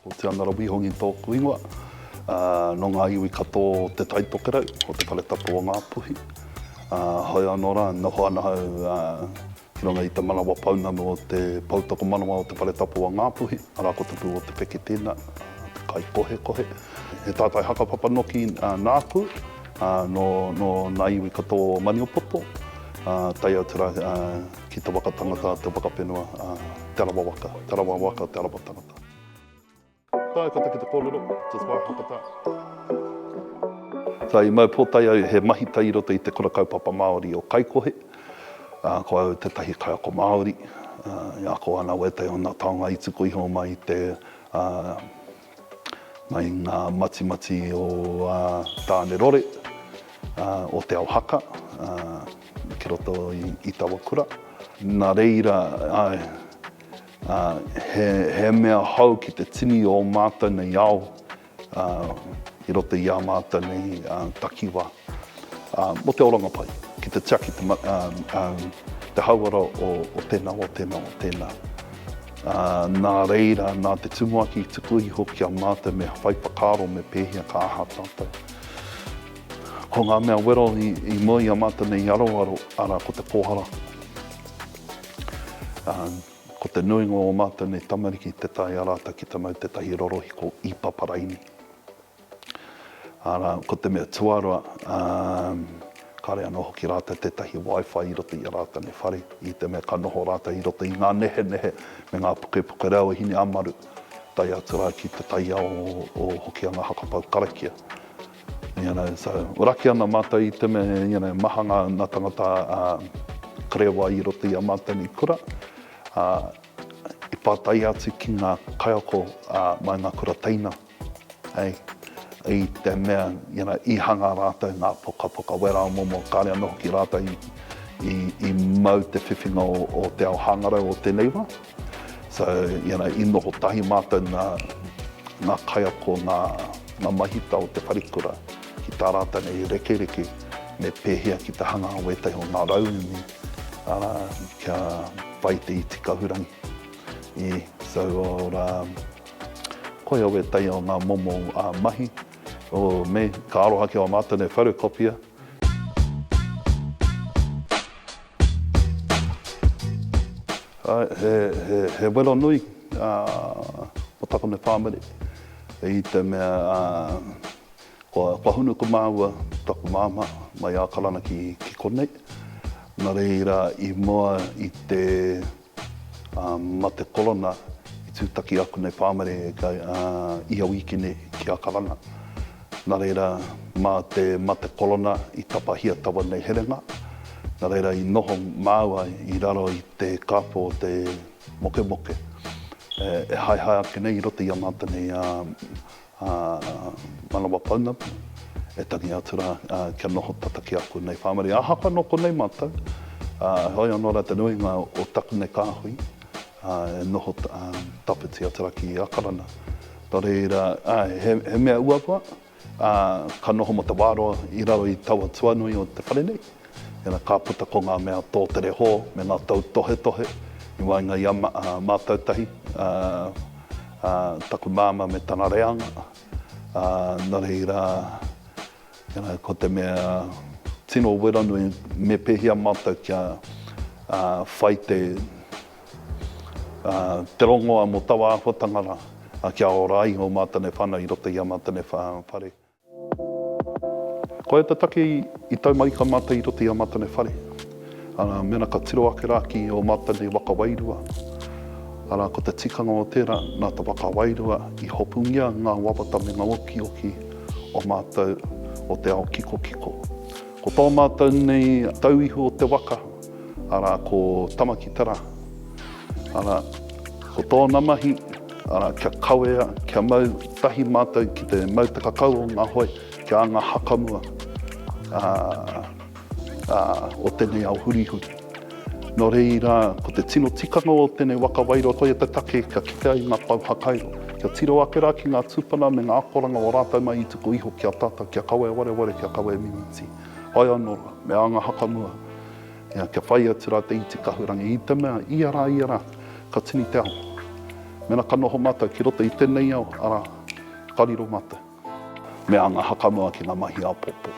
Ko Te Anara Wihongi tōku ingoa. Nō ngā iwi katoa o Te Tai Tokerau, o Te Whare Tapu o Ngāpuhi. Heoi anō rā, noho ana au ki runga i te manawa pounamu o te Pou Tokomanawa o Te Whare Tapu o Ngāpuhi, arā, ko Te Pū o Te Peke tēnā, te kaikohekohe. He tātai hakapapa noki nāku, nō ngā iwi katoa o Maniapoto, tae atu rā Ki te waka tangata, te waka whenua, te arawa waka, te arawa waka, te arawa tangata. Tae kata ki te kōrero, just wā haka tā. Ka i mau pōtae au he mahita i roto i te Kura Kaupapa Māori o Kaikohe, ko au tētahi kaiako Māori, e ako ana wētahi o nā taonga i tuku iho mai i te mai ngā matimati o ā Tāne Rore, ā, o Te Ao Haka, ā, ki roto i, i taua kura. Nā reira, āe, ā, he, he mea hou ki te tini o ō mātou nei ao, ā, i roto i ā mātou nei, ā, takiwā. Mo te oranga pai, ki te tiaki te hauara o tena, o tena, o tena. Na reira, na te tumuaki i tuku iho ki a matou me whai whakaaro me pehea ka aha tatou. Ko nga mea wero i mua i a matou nei i aroaro, ara ko te pohara. Ko te nuinga o matou nei tamariki te tae a ratou ki te mau tetahi rorohiko i paparaini. Arā, ko te mea tuarua, kāre anō hoki rātou tētahi Wi-Fi i roto i a rātou nei whare, i te mea ka noho rātou i roto i ngā nehenehe me ngā pukepuke reo hine ā-maru, tae atu rā ki te taiao o Hokianga Hakapau karakia. You know, so, raki ana mātou i te mea, you know, maha ngā tāngata karewa i roto i ā mātou nei kura, ā, i pātai atu ki ngā kaiako mai ngā kura teina. Hei, i te mea, you know, i hanga rātou ngā pokapoka wera o momo, kāre anō hoki rātou i, i mau te whiwhinga o, o te ao hāngarau o tēnei wā. So, you know, i noho tahi mātou nā ngā kaiako, ngā, ngā mahita o te wharekura ki tā rātou nei rekereke me pēhea ki te hanga o ētahi o ngā rauemi, arā, kia whai te iti kahurangi. Ī, so, ora, Koia wētahi o ngā momo mahi o me ka aroha ki ō mātou nei wharekopia. He wero nui o taku nei whāmere i te mea kua hunu ko māua taku māmā mai Ākarana ki konei. Nā reira i mua i te. Ā, ma te korona i tūtaki aku nei pāmare i a Wīkene ki a Karanga. Na reira, ma te, ma te korona i tapahia taua nei herenga. Na reira, i noho māua i raro i te kāpō o te mokemoke e haehae ake nei i roto i a mātou nei, ā, Ā, manawa pounamu, e tangi atu rā, ā, kia noho tata ki aku nei whāmari. Ahakoa nō konei mātou, ā, heoi anō rā te nuinga o taku nei kāhui, ā, e noho, ā, tawhiti atu rā ki Ākarana. Nō reira, ā, he, he mea uaua, ā, ka noho mō te wā roa i raro i taua tuanui o te whare nei. Ina ka puta ko ngā mea tō te rehō me ngā tautohetohe i waenga i a mātou tahi, taku māmā me tana reanga, nō reira, ko te mea tino wera nui me pēhea mātou kia whai te rongoa mō taua āhuatanga rā kia ora ai ō mātou nei whānau i roto i ā mātou nei whare. Koia te take i taumarika mātou i roto i a Matanei whare. Arā, mēnā ka tiro ake rā ki ō Matanei waka wairua, arā, ko te tikanga o tērā, nā te waka wairua i hopungia ngā wawata me ngā okioki o mātou o te ao kikokiko. Ko tō mātou nei tau ihu o te waka, arā, ko Tamakitara, arā, ko tōna mahi, arā, kia kawea, kia mau tahi mātou ki te mau takakau o ngā hoe ki a ngā hakamua o tēnei ao hurihuri. Nō reira, ko te tino tikanga o tēnei waka wairua, koia te take kia kite ai ngā pou hakairo, kia tiro ake rā ki ngā tūpuna me ngā akoranga o rātou mai i tuku iho ki a tātou, kia kawea wareware, kia kawea mimiti. Ae anō, me ānga hakamua, ea, kia whai atu rā te iti kahurangi i te mea, ia rā, ia rā, ka tini te ao. Mēnā ka noho mātou ki roto i tēnei ao, arā, ka riro mātou. Me ānga hakamua ki ngā mahi āpōpō.